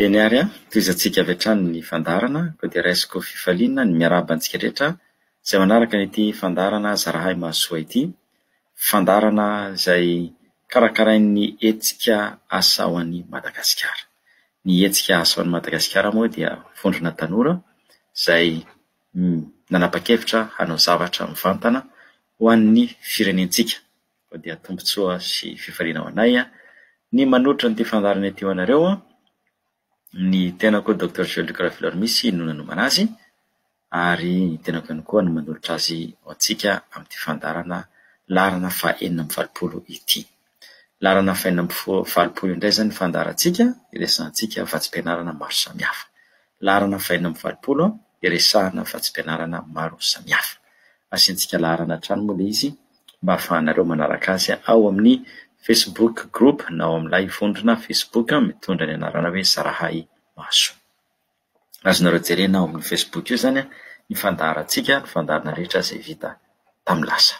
Eny ary an! Tohizantsika avy hatrany ny fandaharana koa dia raisiko fifaliana ny miarahaba antsika rehetra izay manaraka an'ity fandaharana Zarahay Mahasoa ity. Fandaharana izay karakarain'ny hetsika Asa ho an'i Madagasikara. Ny hetsika Asa ho an'i Madagasikara moa dia vondrona tanora izay nanapa-kevitra hanao zavatra mivantana ho an'ny firenentsika. Koa dia tombontsoa sy fifaliana ho anay ny manolotra an'ity fandaharana ity ho anareo. Ny tenako Docteur Joël Luc Rafilor Missy no nanomana azy ary ny tenako ihany koa no manolotra azy ho antsika amin'ity fandaharana laharana fahenina amby valopolo ity. Laharana fahenina amby valopolo indray izany ny fandaharantsika hiresahantsika vatsim-pianarana maro samihafa. Laharana fahenina amby valopolo iresahana vatsim-pianarana maro samihafa. Asiantsika laharana hatrany moa ilay izy mba hahafahanareo manaraka azy ao amin'ny Facebook group na ao amin'ilay vondrona Facebook mitondra ny anarana hoe Zarahay Mahasoa. Azonareo jerena ao amin'ny Facebook io izany ny fandaharantsika, ny fandaharana rehetra izay vita tamin'ny lasa.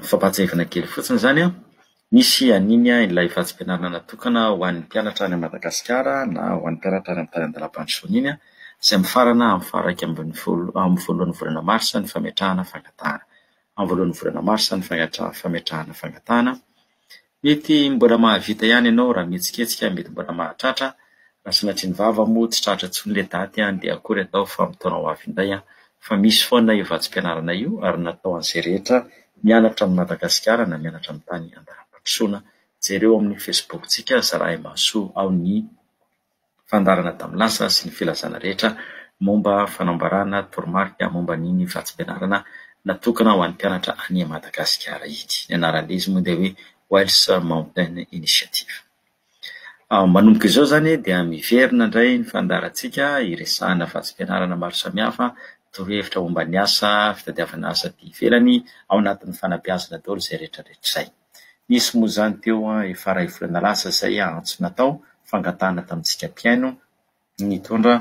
Fampahatsiahivana kely fotsiny izany an, Misy an'iny ilay vatsim-pianarana natokana ho an'ny mpianatra any Madagasikara na ho an'ny mpianatra any amin'ny tany an-dalam-pandrosoana iny izay mifarana amin'ny faha iraika ambin'ny folo amin'ny voalohan'ny volana marsa ny fametrahana fangatahana. Amin'ny voalohan'ny volana marsa ny fametra- fametrahana fangatahana. Mety mbola mahavita ihany ianao raha mihetsiketsika, mety mbola mahatratra. Raha sanatria ny vava moa tsy tratra intsony ilay daty dia akory atao fa amin'ny taona ho avy indray fa misy foana io vatsim-pianarana io ary natao an'izay rehetra mianatra amin'i Madagasikara na mianatra amin'ny tany an-dalam-pandrosoana. Jereo amin'ny Facebook-tsika Zarahimahasoa ao ny fandaharana tamin'ny lasa sy ny filazana rehetra momba fanamboarana toromarika momba an'iny vatsim-pianarana natokana ho an'ny mpianatra any Madagasikara iny. Ny anaran'izy moa dia hoe Wells Mountain Initiative. Manomboka izao izany dia miverina indray ny fandaharantsika hiresahana vatsim-pianarana maro samihafa, torohevitra momba ny asa, fitadiavana asa aty ivelany, ao anatin'ny fanabeazana daholo izay rehetrarehetra izay. Nisy moa izany teo efa iray volana lasa izay antso natao, fangatahana tamintsika mpihaino, nitondra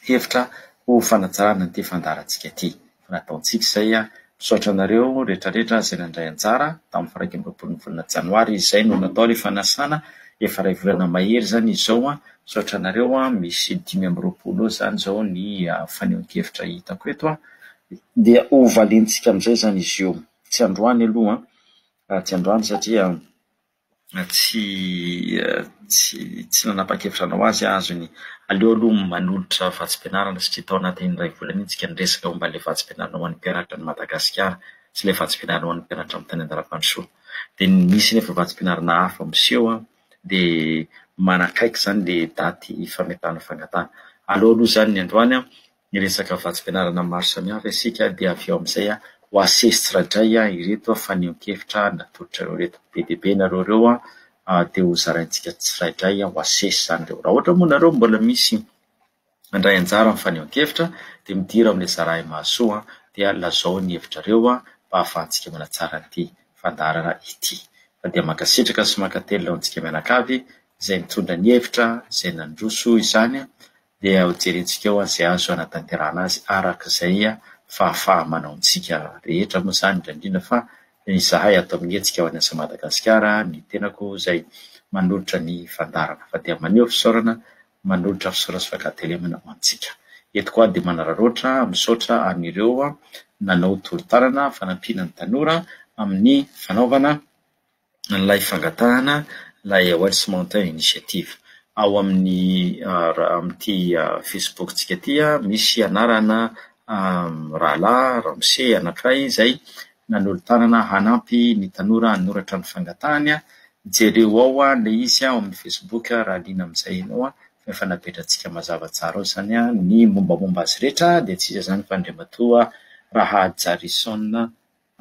hevitra ho fanatsarana ity fandaharantsika ity. Fa nataontsika izay. Misaotra anareo rehetrarehetra izay nandray anjara tamin'ny faha iraika amby roapolo ny volana janoary. Izay no natao ilay fanasana, efa iray volana mahery izany izao. Misaotra anareo, misy dimy amby roapolo eo izany izao ny fanehoan-kevitra hitako eto. Dia hovaliantsika amin'izay izany izy io. Tsy androany aloha an, tsy androany satria. tsy tsy tsy nanapa-kevitra hanao azy aho azony aleo aloha manolotra vatsim-pianarana satria tao anatin'iny iray volana iny isika niresaka momba ilay vatsim-pianarana ho an'ny mpianatra any Madagasikara sy ilay vatsim-pianarana ho an'ny mpianatra amin'ny tany Andarapandrosoa dia ny misy nefa vatsim-pianarana hafa miseho an dia manakaiky izany ilay daty fametahana fangatahana aleo aloha izany ny androany an Miresaka vatsim-pianarana maro samihafa isika dia avy eo amin'izay ho asesy tsiradray ireto fanehoan-kevitra natolotrareo ireto. Be dia be nareo ireo dia ho zaraintsika tsirairay ho asesy izany ireo. Raha ohatra moa nareo mbola misy handray anjara amin'ny fanehoan-kevitra dia midira ao amin'ilay Zarahay Mahasoa dia lazao ny hevitrareo mba hahafahantsika manatsara an'ity fandaharana ity. Fa dia mankasitraka sy mankatelina ho antsika mianakavy izay nitondra ny hevitra, izay nandroso izany dia ho jerentsika eo izay azo hanatanterahana azy araka izay fahafaha-manaontsika rehetra moa izany, indrindra indrindra fa izahay ato amin'ny hetsika ho an'ny asan'i Madagasikara, ny tenako izay manolotra ny fandaharana fa dia maneho fisaorana, manolotra fisaorana sy fankatelemana ho antsika. Eto koa aho dia manararaotra misaotra an'ireo nanao tolo-tanana fanampiana ny tanora amin'ny fanaovana. an'ilay fangatahana ilay Wells Mountain Initiative. Ao amin'ny ra- ao amin'ity Facebook-tsika ity an, misy anarana mirahalahy ramose anankiray izay nanolo-tanana hanampy ny tanora hanoratra ny fangatahany an, jereo ao ilay izy ao amin'ny Facebook raha liana amin'izay ianao an, fa efa napetrantsika mazava tsara ao izany an, ny mombamomba azy rehetra dia tsy iza izany fa Andriamatoa Rahajarison.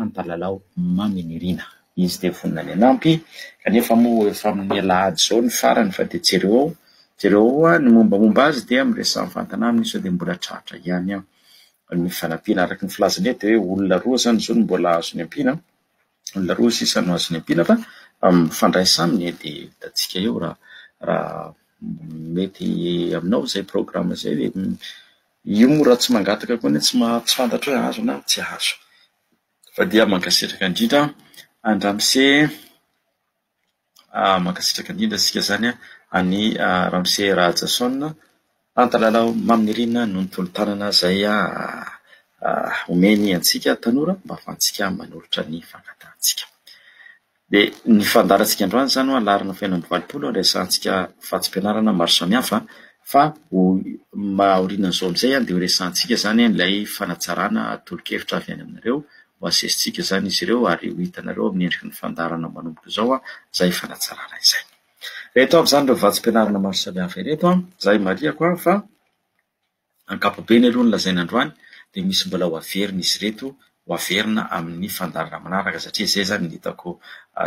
Ampalalao Mamy Nirina. Izy dia vonona ny hanampy, kanefa moa efa amin'ny alahady izao ny farany fa dia jereo ao, jereo ao hoa ny mombamomba azy dia miresaha mivantana aminy sao dia mbola tratra ihany an! ny fanampiana. Araka ny filazany eto dia hoe olona roa izany izao no mbola azo niampiana an! olona roa sisa no azo niampiana fa mifandraisa aminy e! dia hitantsika eo raha raha mety aminao izay programa izay ve. Io moa raha tsy mangataka koa anie tsy tsy fantatro hoe azo na tsy azo. Fa dia mankasitraka indrindra an ramose an, mankasitraka indrindra isika izany an'i ramose Rahajason Antalalau Mamy Nirina noho ny tolo-tanana izay omeny antsika tanora mba ahafahantsika manolotra ny fangatahantsika. Dia ny fandaharantsika androany izany hoe alarina feno amby valopolo no resahantsika vatsim-pianarana maro samihafa fa aorianan'izao amin'izay dia ho resahantsika izany ilay fanatsarana tolo-kevitra avy any aminareo. Ho asesintsika izany izy ireo ary ho hitanareo amin'ny endriky ny fandaharana manomboka izao izay fanatsarana izay. Ireto avy izany ireo vatsim-pianarana maro samihafa ireto izay marihiko fa Ankapobeny aloha ny lazaina androany dia misy mbola ho averina izy ireto ho averina amin'ny fandaharana manaraka satria izay izany no hitako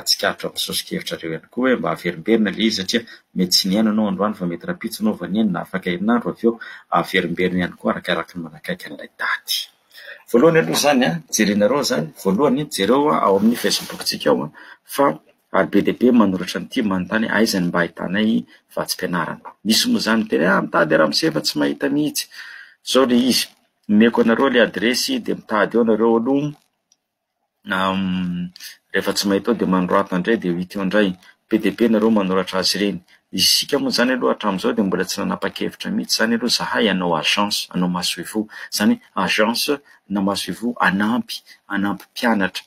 tsikaritra ao amin'ny soso-kevitrareo ihany koa hoe mba averimberina ilay izy satria mety tsy nihaino ianao androany fa mety rahampitso ianao vao nihaino na afaka herinandro avy eo averimberina ihany koa arakaraky ny manakaiky an'ilay daty. Voalohany aloha izany an, jerenareo izany, voalohany jereo ao amin'ny facebook-tsika ao fa Ary be dia be manoratra an'ity manontany aiza ny mba ahitanay vatsim-pianarana. Misy moa izany miteny ah mitady ramose fa tsy mahita mihitsy. Zao le izy, omeko anareo le adiresy de mitady eo nareo aloha rehefa tsy mahita eo de manorato andray de ho hita eo ndray. Be dia be nareo manoratra azy ireny. Isika moa zany aloha hatramizao de mbola tsy nanapa-kevitra mihitsy zany aloha zahay hanao agence hanao masoivoho. Zany hoe agence na masoivoho hanampy hanampy mpianatra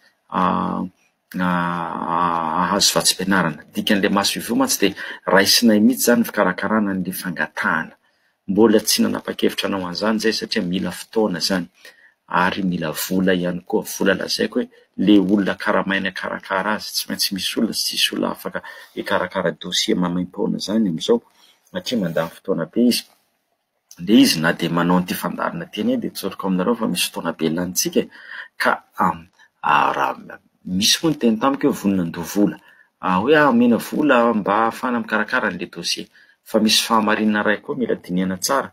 hahazo vatsim-pianarana. Ny dikan'ilay maso ivoho mantsy dia raisinay mihitsy izany ny fikarakarana an'ilay fangatahana. Mbola tsy nanapa-kevitra hanao an'izany izahay satria mila fotoana izany ary mila vola ihany koa. Vola lazaiko hoe ilay olona karamaina hikarakara azy, tsy maintsy misy olona sy tsisy olona afaka hikarakara dosie maimaim-poana izany amin'izao satria mandany fotoana be izy. Dia izy na dia manao an'ity fandaharana ity anie dia tsoriko aminareo fa misy fotoana be lanintsika e, ka raha misy moa niteny tamiko hoe vonona handoa vola, hoe aho omena vola mba ahafahana mikarakara an'ilay dossier, fa misy fahamarinana iray koa mila dinihana tsara,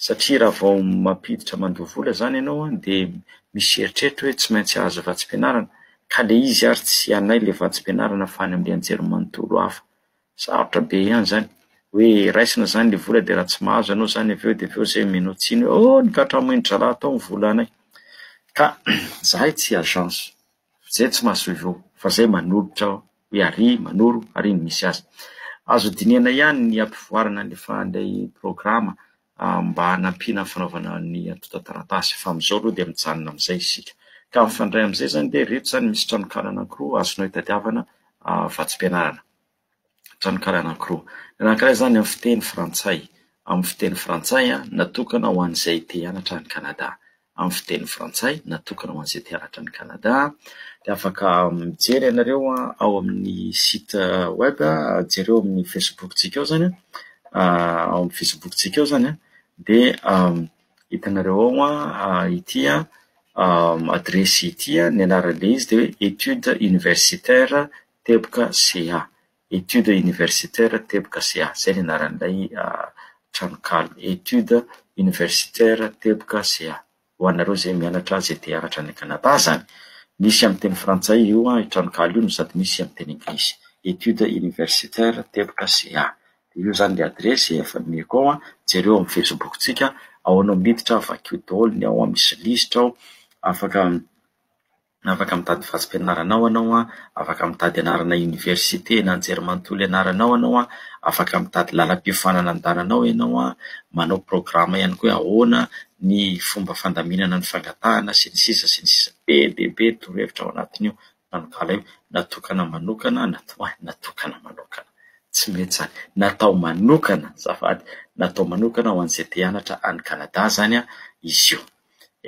satria raha vao mampiditra mandoa vola izany ianao an dia misy eritreritro hoe tsy maintsy hahazo vatsim-pianarana, ka ilay izy ary tsy anay ilay vatsim-pianarana fa any amin'ny anjerimanontolo hafa. Sarotra be ihany izany. Hoe raisina izany ilay vola dia raha tsy mahazo ianao izany avy eo dia avy eo izay omenao tsiny hoe oh nokatramoin'ny drala tao ny vola anay. Ka izahay tsy agence, izay tsy mahasoivo fa izay manolotra aho hoe ary manoro ary ny misy azy. Azo dinihana ihany ny hampivoarana ny fahan'ilay programa mba hanampiana ny fanaovana ny antontan-taratasy fa amin'izao aloha dia mijanona amin'izay isika. Ka mifandray amin'izay izany dia ireto izany misy tranonkala anankiroa azonao itadiavana vatsim-pianarana. Tranonkala anankiroa. Ny anankiray izany amin'ny fiteny frantsay, amin'ny fiteny frantsay natokana ho an'izay te hianatra any Canada. amin'ny fiteny frantsay natokana ho an'izay te haratra an'i Canada dia afaka mijery ianareo ao amin'ny site web, jereo amin'ny facebook-tsika ao izany, ao amin'ny facebook-tsika ao izany an, dia hitanareo ao ity adiresy ity, ny anaran'ilay izy dia hoe études universitaires teboka CA. Études universitaires teboka CA. Izay ny anaran'ilay tranonkala, Études universitaires teboka CA. Ho anareo izay mianatra, izay te hianatra any Canada izany. Misy amin'ny teny frantsay io tranonkala io no sady misy amin'ny teny anglisy. Études universitaires teboka CA. Dia io izany ilay adiresy efa nomeko ao. Jereo amin'ny Facebook-tsika, ahoana miditra, vakio daholo ny ao, misy lisitra ao, afaka... Afaka mitady vatsim-pianarana ao ianao, afaka mitady anarana oniversite na anjerimanontolo ianarana ao ianao, afaka mitady lalam-piofanana andehanana ao ianao, manao programa ihany koa hoe ahoana ny fomba fandaminana ny fangatahana sy ny sisa sy ny sisa. Be dia be ny torohevitra ao anatin'io tranonkala io, natokana manokana, ho an'ny natokana manokana. Tsy mety izany. Natao manokana, azafady, natao manokana ho an'izay te hianatra any Canada izany izy io.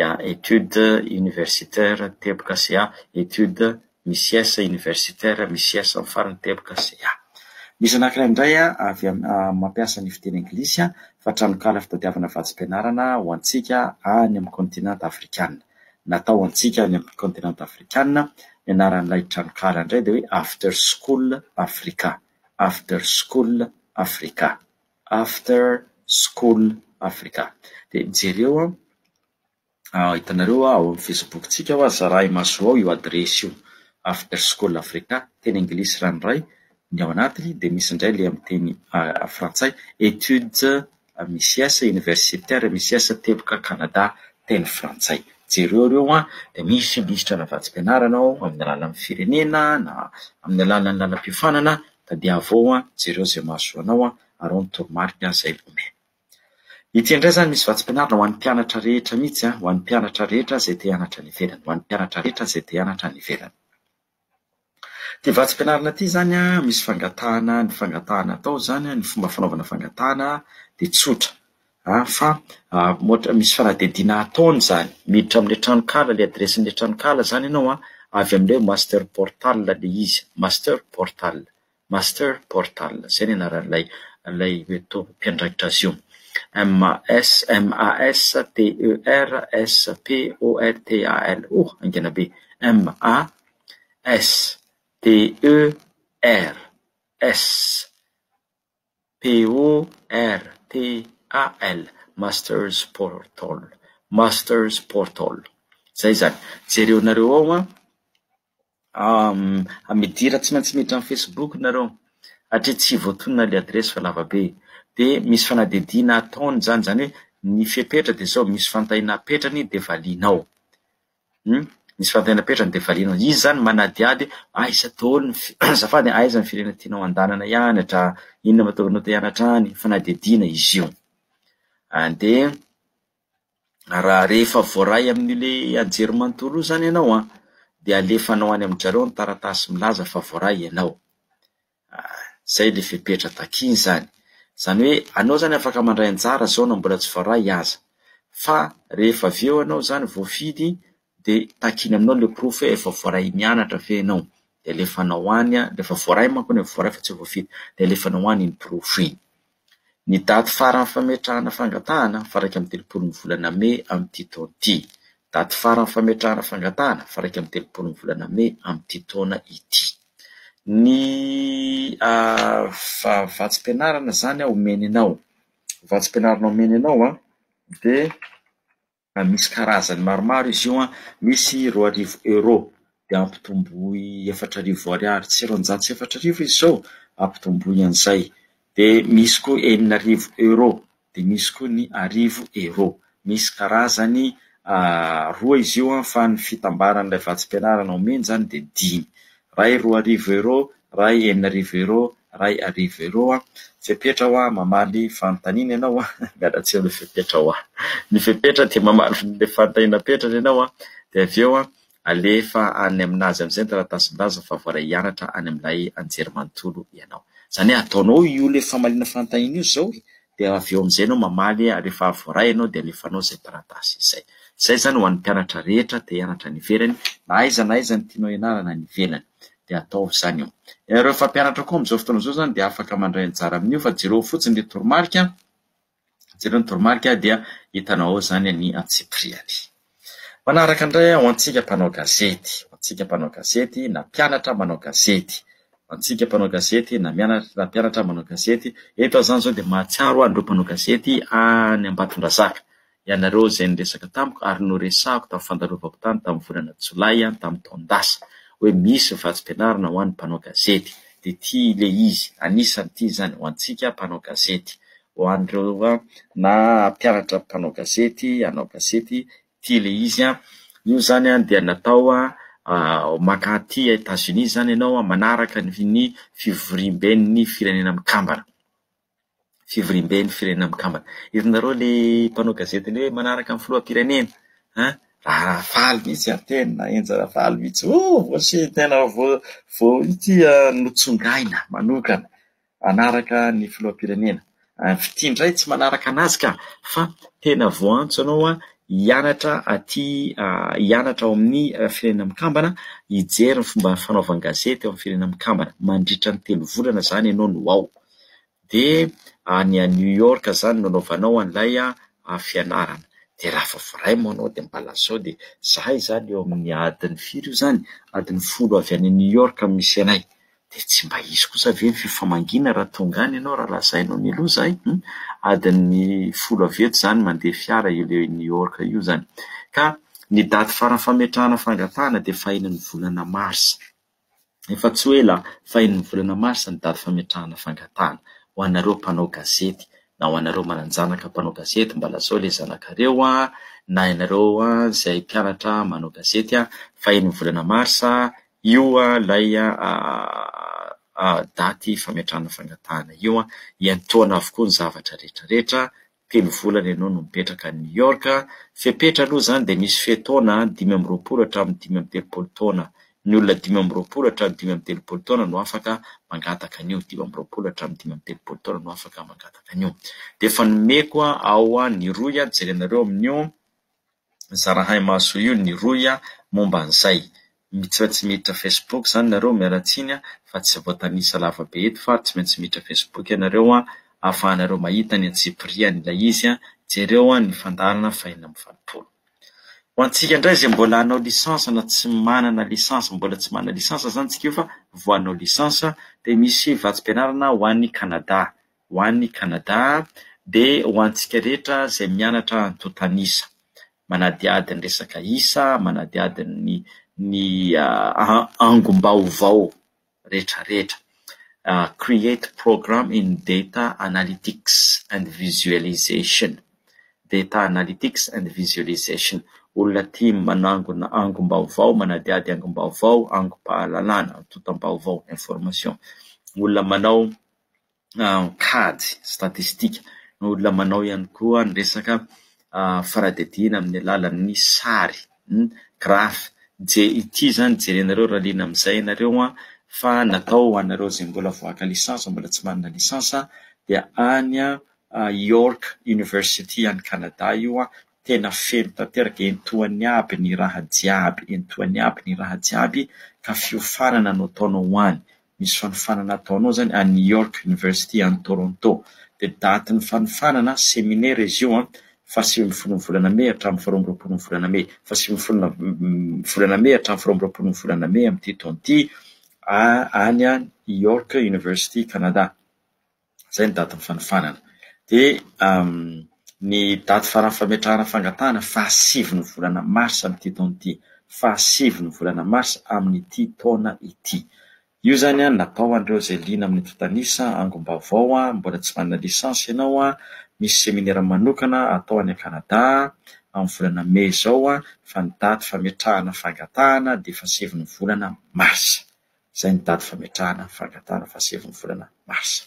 ya études universitaires teboka sy ya études micies universitaires micies ny farany teboka sy ya misy anankiray indray avy mampiasa ny fiteny anglisy fa tranonkala fitadiavana vatsim-pianarana ho antsika any amin'ny kontinanta afrikana. Natao ho antsika any amin'ny kontinanta afrikana. Ny anaran'ilay tranonkala indray dia hoe After School Africa, After School Africa. After School Africa. Dia jereo an, hitanareo ao amin'ny Facebook-tsika ao, zaraha imasoa ao io adiresy io, After School Africa, teny anglisy ranoray ny ao anatiny dia misy indray ilay amin'ny teny frantsay, Études MICS, Universitaires MICS, Teboka Canada, teny frantsay. Jereo ireo an, dia misy lisitra ana vatsim-pianarana ao amin'ny alalan'ny firenena na amin'ny alalan'ny lalam-piofanana Tadiavo ao an, jereo izay mahasoa anao an, ary ao ny toromarika izay omeny. Ity indray izany misy vatsim-pianarana ho an'ny mpianatra rehetra mihitsy an, ho an'ny mpianatra rehetra izay te hianatra any ivelany, ho an'ny mpianatra rehetra izay te hianatra any ivelany. Ity vatsim-pianarana ity izany an, misy fangatahana, ny fangatahana atao izany an, ny fomba fanaovana fangatahana dia tsotra. a fa ohatra misy fanadihadiana ataony izany, miditra amin'ilay tranonkala ilay adiresin'ilay tranonkala izany ianao a, avy amin'ilay hoe master portal ilay izy, master portal, master portal, izay ny anaran'ilay ilay hoe to- mpiandraikitra azy io, M A S M A S T E R S P O R T A L, oh haingana be, M A S T E R S. P-O-R-T-A-L, Masters Portal, Masters Portal, izay izany. Jereo anareo ao an, amidira tsy maintsy miditra amin'ny Facebook nareo, hatria tsy voatonona ilay adiresy fa lava be, dia misy fanadihadiana ataony izany, izany hoe ny fepetra dia izao, misy fantahina apetrany dia valianao. Humm misy fanontaniana apetrany dia valianao. Izy izany manadihady hoe aiza daholo ny fi- azafady e, aiza ny firenena tianao handehanana hianatra, inona no mahatonga anao te hianatra any, fanadihadiana izy io. Dia raha rehefa voaray amin'io le anjerimanontolo io izany ianao an, dia alefanao any amin-dry zareo ny taratasy milaza fa voaray ianao. Zay le fepetra takiany zany. Zany hoe anao zany afaka mandray anjara zao na mbola tsy voaray aza. Fa rehefa avy eo anao zany voafidy de takiana aminao le porofo hoe efa voaray mianatra ve ianao de alefanao any, rehefa voaray manko anie, voaray fa tsy voafidy de alefanao any iny porofo iny. Ny daty faran'ny fametrahana fangatahana, faraika amin'ny telopolo ny volana mey amin'ity taona ity. Daty faran'ny fametrahana fangatahana, faraika amin'ny telopolo ny volana mey amin'ity taona ity. Ny vatsim-pianarana izany omeny anao, vatsim-pianarana omeny anao dia Raha misy karazany maromaro izy io an, misy roa arivo euros, dia ampitomboy efatra arivo ariary, tsy roanjato sy efatra arivo izy izao, ampitomboy an'izay. Dia misy koa enina arivo euros, dia misy koa ny arivo euros. Misy karazany roa izy io an, fa ny fitambaran'ilay vatsim-pianarana omeny izany dia dimy. Iray roa arivo euros, Ray enina arivo euro ray arivo euro a! Fepetra ho aho mamaly fanontaniana ianao a! Miala tsiny le fepetra ho aho! Ny fepetra dia mamaly le fanontaniana apetrany ianao a! Dia avy eo a! Alefa any aminazy amizay ny taratasim-baza fa voaray hianatra any amin'ilay anjerimanontolo ianao. Izany hoe ataonao io le famaliana fanontaniana io zao e! Dia avy eo amizay ianao mamaly ary rehefa voaray ianao dia alefanao izay taratasy izay. Izay izany ho an'ny mpianatra rehetra te hianatra any ivelany na aiza na aiza ny tianao hianarana any ivelany. dia ataovy izany eo. Ianareo mpampianatra koa amin'izao fotoana izao izany dia afaka mandray anjara amin'io fa jereo fotsiny ny toromarika, jereo ny toromarika dia hitanao ao izany ny antsipiriany. Manaraka indray ho antsika mpanao gazety, ho antsika mpanao gazety na mpianatra manao gazety, ho antsika mpanao gazety na mpianatra manao gazety, eto aho izany izao dia mahatsiaro an'ireo mpanao gazety any Ambatondrazaka. Ianareo izay niresaka tamiko ary noresahako tamin'ny fandalovako tany tamin'ny volana Jolay any tamin'ny taon-dasa hoe misy vatsim-pianarana ho an'ny mpanao gazety dia ity le izy anisany ity izany ho antsika mpanao gazety ho an'ireo na hampianatra mpanao gazety hanao gazety ity le izy an io izany an dia natao an maka aty Etats-Unis izany ianao manaraka ny fivoriamben'ny firenena mikambana. fivoriamben'ny firenena mikambana. Hitanareo le mpanao gazety le hoe manaraka ny filoham-pirenena an! Raha faly mihitsy ary tena enja raha faly mihitsy oh voasy tena vo vo ity notsongaina manokana hanaraka ny filoham-pirenena. Fitia indray tsy manaraka anazy ka fa tena voantso ianao an hianatra aty hianatra ao amin'ny firenena mikambana hijery ny fomba fanaovan-gazety ao amin'ny firenena mikambana mandritra ny telo volana izany ianao no ao. dia any à New York zany no anaovanao an'ilay fianarana, dia raha vao vraiment anao dia mba lazao dia izahay izany eo amin'ny adiny firy io izany, adiny folo avy any New York no misy anay, dia tsy mba hisy kosa ve ny fifamangiana raha tonga any ianao raha lazainao mialoha izahay hum, adiny folo avy eto izany mandeha fiara io le New York io izany, ka ny daty farany fametrahana fangatahana dia fahen'ny volana marsa. Efa tsy ho ela fahen'ny volana marsa ny daty fametrahana fangatahana ho anareo mpanao gazety na ho anareo manan-janaka mpanao gazety mba lazao ilay zanakareo na ianareo izay mpianatra manao gazety fahen'ny volana marsa io ilay daty fametrahana fangatahana io. Hiantohana avokoa ny zavatra rehetrarehetra. telo volana ianao no mipetraka any New York, fepetra aloha izany dia misy fe-taona dimy amby roapolo hatramin'ny dimy amby telopolo taona, ny olona dimy amby roapolo hatramin'ny dimy amby telopolo taona no afaka mangataka an'io, dimy amby roapolo hatramin'ny dimy amby telopolo taona no afaka mangataka an'io. Dia efa nomeko ao ny rohy an, jerenareo amin'io. zarahay mahasoa io ny rohy a momba an'izay. Mitsra tsy miditra facebook zany nareo miala tsiny a fa tsy voatanisa lava be eto fa ary tsy maintsy miditra facebook ianareo a ahafahanareo mahita ny antsipiriany ilay izy a jereo a ny fandaharana fahina amby valopolo. Ho antsika indray izay mbola hanao licence na tsy manana licence mbola tsy manana licence zany tsika io fa vao hanao licence dia misy vatsim-pianarana ho any canada ho any Kanada dia ho antsika rehetra izay mianatra antontan'isa, manadihady ny resaka isa, manadihady ny ny angom-baovao rehetrarehetra, create program in data analytics and visualisation, data analytics and visualisation, olona tia manangona angom-baovao, manadihady angom-baovao, angom-pahalalana, antontam-baovao, information, olona manao. an-kady, statistika, ny olona manao ihany koa ny resaka fanadihadiana amin'ny alalan'ny sary, graphe, je- ity izany jerenareo raha liana amin'izay ianareo an, fa natao ho anareo izay mbola vao haka lisansa, mbola tsy manana lisansa dia any York University any Canada io an. tena feno tanteraka entoany aby ny raha jiaby entoany aby ny raha jiaby ka fiofanana no ataonao ho any misy fanofanana ataonao zany any York University any Toronto de date ny fanofanana seminaire izy io an faha sivy ambin'ny folo ny volana mey hatramin'ny faha roa amby roapolo ny volana mey faha sivy ambin'ny folo ny volana mey hatramin'ny faha roa amby roapolo ny volana mey amin'ity taona ity any an York University Canada Izay ny datin'ny fanofanana. Dia ny daty faran'ny fametrahana fangatahana fahasivy ny volana marsa amin'ity taona ity. Fahasivy ny volana marsa amin'ity taona ity. Io izany natao an'ireo izay liana amin'ny tontan'isa, angom-baovao, mbola tsy manana lisansa ianao, misy seminera manokana atao any Kanada amin'ny volana mey izao fa ny daty fametrahana fangatahana dia fahasivy ny volana marsa. izay nitady fametrahana ny fangatahana fahasivy ny volana marsa.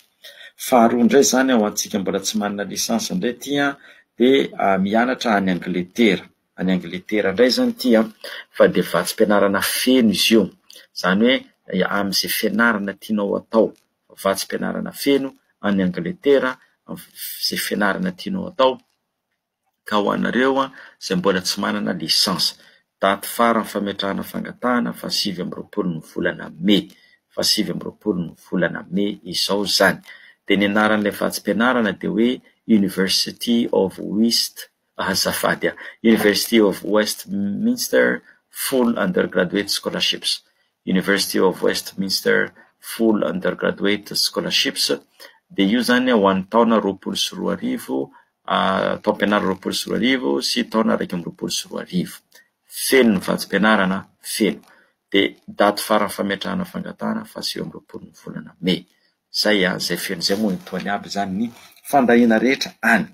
Faharoa indray izany ho antsika mbola tsy manana licence indray ity an, dia mianatra any Angletera, any Angletera indray izany ity an, fa dia vatsim-pianarana feno izy io, izany hoe amin'izay fianarana tianao atao, vatsim-pianarana feno any Angletera, izay fianarana tianao atao. Ka ho anareo izay mbola tsy manana licence, daty faran'ny fametrahana fangatahana fahasivy amby roapolo ny volana mey, fahasivy amby roapolo ny volana mey izao izany. Dia ny anaran'ilay vatsim-pianarana dia hoe University of West azafady an, University of Westminster Full Undergraduate Scholarships, University of Westminster Full Undergraduate Scholarships, dia io izany ho an'ny taona roapolo sy roa arivo taom-pianarana roapolo sy roa arivo sy taona iraika amby roapolo sy roa arivo. Feno ny vatsim-pianarana, feno. Dia daty faran'ny fametrahana fangatahana faha sivy amby roapolo ny volana mey. Izay an, izay feno izay moa etoany aby izany ny fandahiana rehetra any.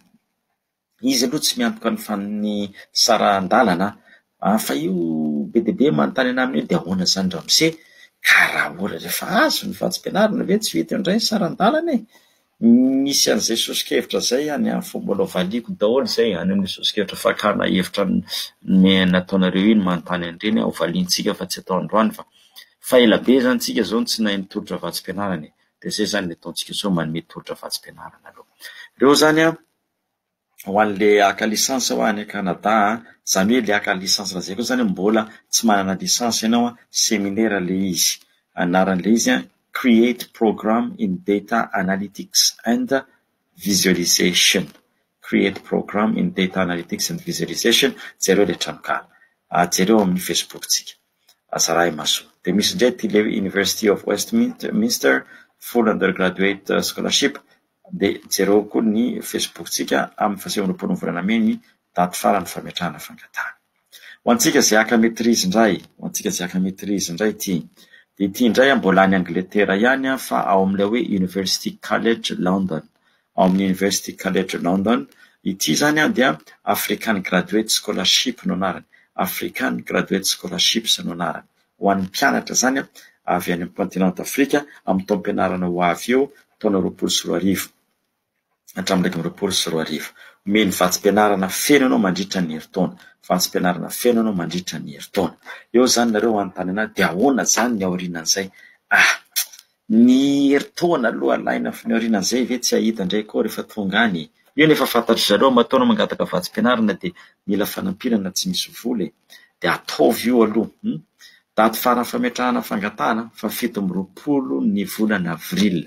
Izy aloha tsy miantoka ny fan- ny saran-dalana an, fa io be dia be manontany anah amin'io dia ahoana izany ramose, ka raha ohatra rehefa azo ny vatsim-pianarana ve tsy ho hita eo indray ny saran-dalana e? Misy an'izay soso-kevitra izay any amin'ny fo, mbola valiako daholo izay any amin'ny soso-kevitra fakana hevitra nataonareo iny manontany an'ireny aho valiantsika fa tsy atao androany fa fa ela be izany tsika izao no tsy nahay nitolotra vatsim-pianarana e, dia izay izany ilay ataontsika sao manome tolotra vatsim-pianarana aloha ireo izany an! ho an'ilay haka licence hoa any Canada an, izany hoe ilay haka licence lazaiko eo izany hoe mbola tsy manana licence ianao an, seminaire ilay izy, anaran'ilay izy an, Create Program in Data Analytics and Visualization, Create Program in Data Analytics and Visualization, jereo ilay tranonkala, jereo ao amin'ny Facebook-tsika. Asa raha maso. Dia misy indray ity le University of Westminster full undergraduate scholarship dia jereo koa ny facebook tsika amin'ny faha sivy amby roapolo ny volana mey ny daty farany fametrahana fangatahana. Ho antsika izay haka maitrise indray, ho antsika izay haka maitrise indray ity. Dia ity indray mbola any Angletera ihany fa ao amin'ilay hoe University College London. Ao amin'ny University College London, ity izany dia African Graduate Scholarship no anarany, African Graduate Scholarships no anarany, ho an'ny mpianatra izany avy any amin'ny Kontinanta Afrika amin'ny taom-pianarana ho avy io taona roapolo sy roa arivo hatramin'ny iraika amby roapolo sy roa arivo. Omeny vatsim-pianarana feno ianao mandritra ny herintaona, vatsim-pianarana feno ianao mandritra ny herintaona. Eo izany nareo hanontany an'ahy, dia ahoana izany ny aorianan'izay? Ah! Ny herintaona aloha alaina fa ny aorianan'izay ve tsy ahita indray koa rehefa tonga any e! Io anie efa fantatry zareo matoa anao mangataka vatsim-pianarana dia mila fanampiana na tsy misy vola e! Dia ataovy io aloha hum! Daty faran'ny fametrahana fangatahana, fahafito amby roapolo ny volana avril,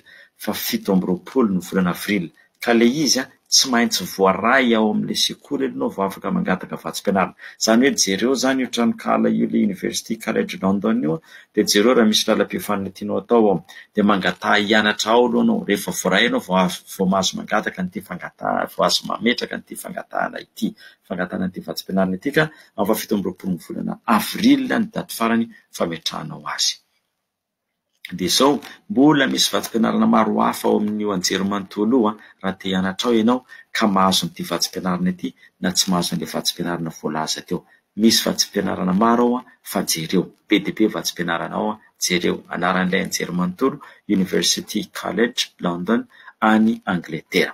fahafito amby roapolo ny volana avril, Ka le izy tsy maintsy voaray ao amle sekoly alohano vao afaka mangataka vatsim-pianarana. Zany hoe jereo zany io tranonkala io le University College London io de jereo raha misy lalam-piofanana tianao atao ao de mangataha hianatra ao aloha anao rehefa voaray anao vao azo vao mahazo mangataka an'ity fangataha vao azo mametraka an'ity fangatahana ity fangatahana an'ity vatsim-pianarana ity ka amin'ny fahafito amby roapolon'ny volana avril ny daty farany fametrahanao azy. Dia izao, mbola misy vatsim-pianarana maro hafa ao amin'io anjerimanontolo io raha te hianatra ao ianao ka mahazo an'ity vatsim-pianarana ity na tsy mahazo an'ilay vatsim-pianarana voalaza teo. Misy vatsim-pianarana maro ao fa jereo. Be dia be vatsim-pianarana ao, jereo. Anaran'ilay anjerimanontolo, University College London, any Angletera.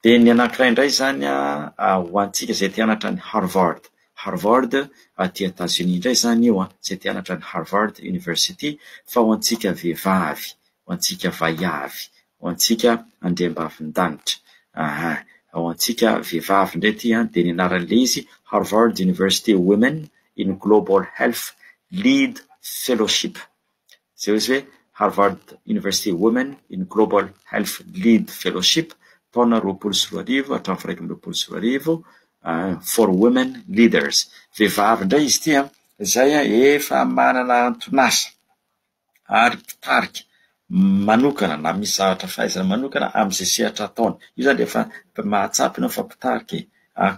Dia ny anankiray indray izany ho antsika izay te hianatra any Harvard. Harvard aty Etazonia indray izany io izay te hianatra any Harvard University fa ho antsika vehivavy, ho antsika vaiavy, ho antsika andriambavindanitra. Aha, ho antsika vehivavy indray ity dia ny anaran'ilay izy Harvard University Women in Global Health Lead Fellowship. izay ozy hoe Harvard University Women in Global Health Lead Fellowship taona roapolo sy roa arivo hatramin'ny firaika amby roapolo sy roa arivo for women leaders. Vehivavy indray izy ity an, izay efa manana anton'asa ary mpitarika manokana na misy zavatra fahaizana manokana amin'izay sehatra ataony. Io izany dia efa mahatsapa ianao fa mpitarika e,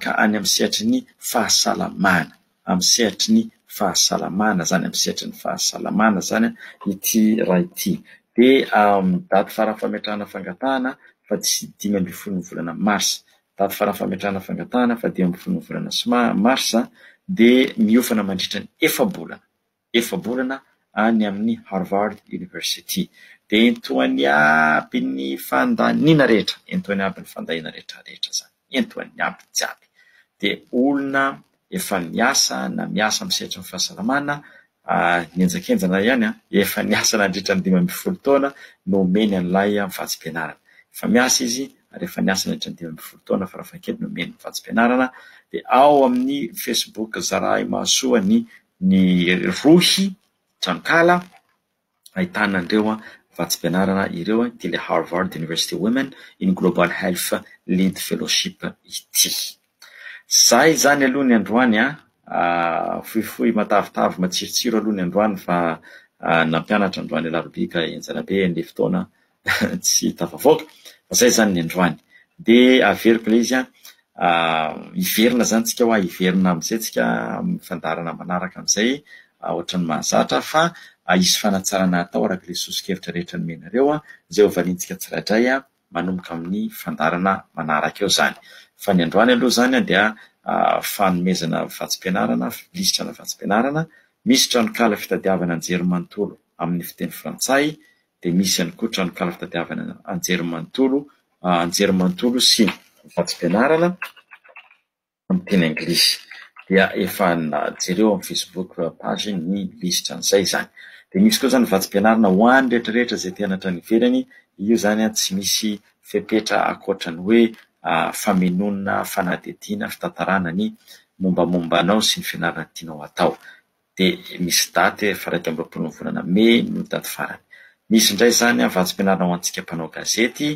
ka any amin'ny sehatry ny fahasalamana. amin'ny sehatry ny fahasalamana izany, amin'ny sehatry ny fahasalamana izany ity ra ity. Dia amin'ny daty faran'ny fametrahana fangatahana fa tsy dimy ambin'ny folon'ny volana marsa. Daty faran'ny fametrahana fangatahana fa dimy ambin'ny folon'ny volana marsa dia miofana mandritra ny efa-bolana. efa-bolana any amin'ny Harvard University. Dia entohan'ny aby ny fandaniana rehetra, entohan'ny aby ny fandaniana rehetra rehetra izany, entohan'ny aby jiaby. Dia olona efa miasa na miasa amin'ny sehatry ny fahasalamana, henjakenjana ihany an, efa niasa nandritra ny dimy ambin'ny folo taona no omeny an'ilay vatsim-pianarana. Efa miasa izy ary efa niasa nandritra ny dimy ambin'ny folo taona farafahakeliny omeny ny vatsim-pianarana. Dia ao amin'ny Facebook zarahimahasoa ny ny rohy tranonkala ahitana an'ireo vatsim-pianarana ireo ity ilay Harvard University Women in Global Health Lead Fellowship ity. Izay izany aloha ny androany an, ah, fohifohy matavitavy matsirotsiro aloha ny androany fa ah, nampianatra androany Alarobia ka henjana be ny fotoana tsy tafavoaka, fa zay zany ny androany. Dia averiko ilay izy an, hiverina zany tsika hoa, hiverina amin'izay tsika amin'ny fandaharana manaraka amin'izay ohatran'ny mahazatra fa hisy fanatsarana hatao araka ilay sosokevitra rehetra nomenareo an, izay hovaliantsika tsirairay manomboka amin'ny fandaharana manaraka eo zany. Fa ny androany aloha zany dia fanomezana vatsim-pianarana, filistrana vatsim-pianarana, misy tranonkala fitadiavana anjerimanontolo amin'ny fiteny frantsay dia misy ihany koa tranonkala fitadiavana anjerimanontolo anjerimanontolo sy vatsim-pianarana amin'ny teny anglisy. Dia efa jereo amin'ny Facebook page ny lisitra an'izay izany. Dia misy koa izany vatsim-pianarana ho an'ny rehetrarehetra izay te hanatra any ivelany, io izany tsy misy fepetra ankoatra ny hoe famenonana fanadihadiana, fitantarana ny mombamomba anao sy ny fianarana tianao hatao. dia misy daty efa iraika amby roapolo ny volana mey no daty farany. Misy indray izany an vatsim-pianarana ho antsika mpanao gazety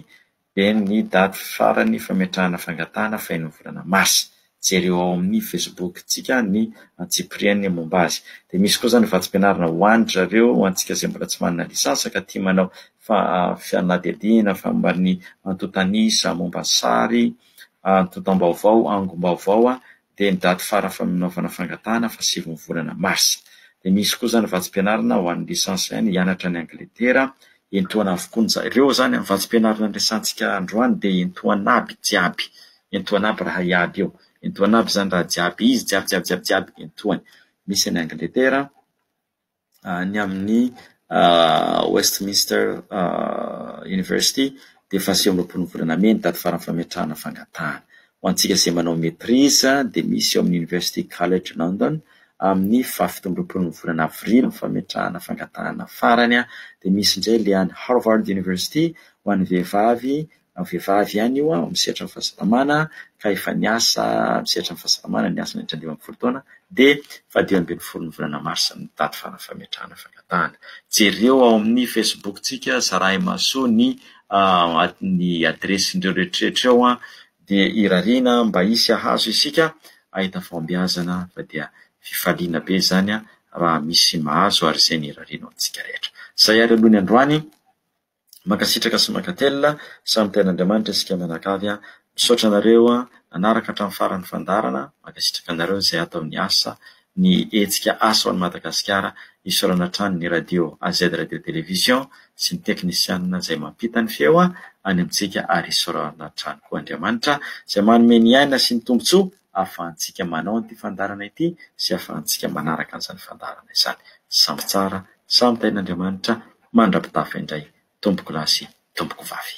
dia ny daty farany fametrahana fangatahana faheno ny volana marsa. Jereo ao amin'ny facebook tsika ny antsipiriany momba azy. Dia misy koa izany vatsim-pianarana ho an-dry zareo ho antsika izay mbola tsy manana lisansa ka tia manao fa fanadihadiana momba ny antontanisa, momba sary, antontam-baovao, angom-baovao dia ny daty fara faminaovana fangatahana fa sivy ny volana marsa. Dia misy koa izany vatsim-pianarana ho an'ny licence any hianatra any Angletera, entohana avokoa ny zany. Ireo izany vatsim-pianarana niresahantsika androany dia entohana aby jiaby, entohana aby raha iaby io, entohana aby izany raha jiaby izy jiaby jiaby jiaby jiaby entohany. Misy any Angletera. any amin'ny Westminster University dia efa sivy amby roapolo volana mey ny daty farany fametrahana fangatahana. Ho antsika izay manao maîtrise dia misy eo amin'ny University College London amin'ny faha fito amby roapolo ny volana avrily ny fametrahana fangatahana farany dia misy indray ilay any Harvard University ho an'ny vehivavy vehivavy ihany io amin'ny sehatran'ny fahasalamana ka efa niasa amin'ny sehatran'ny fahasalamana niasa nandritra ny dimy ambin'ny folo taona dia faha-dimy ambin'ny folo ny volana marsa ny daty farany fametrahana fangatahana. Jereo ao amin'ny Facebook-tsika, zarahimaso ny ny adiresin'ireo rehetrarehetra ireo an, dia irariana mba hisy hahazo isika hahita fahombiazana fa dia fifaliana be izany raha misy mahazo ary izay no irariana ho antsika rehetra. Izay ary aloha ny androany. Mankasitraka sy mankatelina, samy tean' Andriamanitra isika mianakavy a! Misaotra anareo nanaraka hatramin'ny farany ny fandaharana, mankasitraka anareo izay atao ny asa, ny hetsika Asa ho an'i Madagasikara, isaorana hatrany ny Radio AZ Radio Télévision sy ny teknisianina izay mampita ny feo any amintsika ary isaorana hatrany koa Andriamanitra izay manome ny aina sy ny tombotsoa ahafahantsika manao an'ity fandaharana ity sy ahafahantsika manaraka an'izany fandaharana izany. Samy tsara, samy tahian'Andriamanitra. mandra-pitafy indray tompokolahy sy tompokovavy.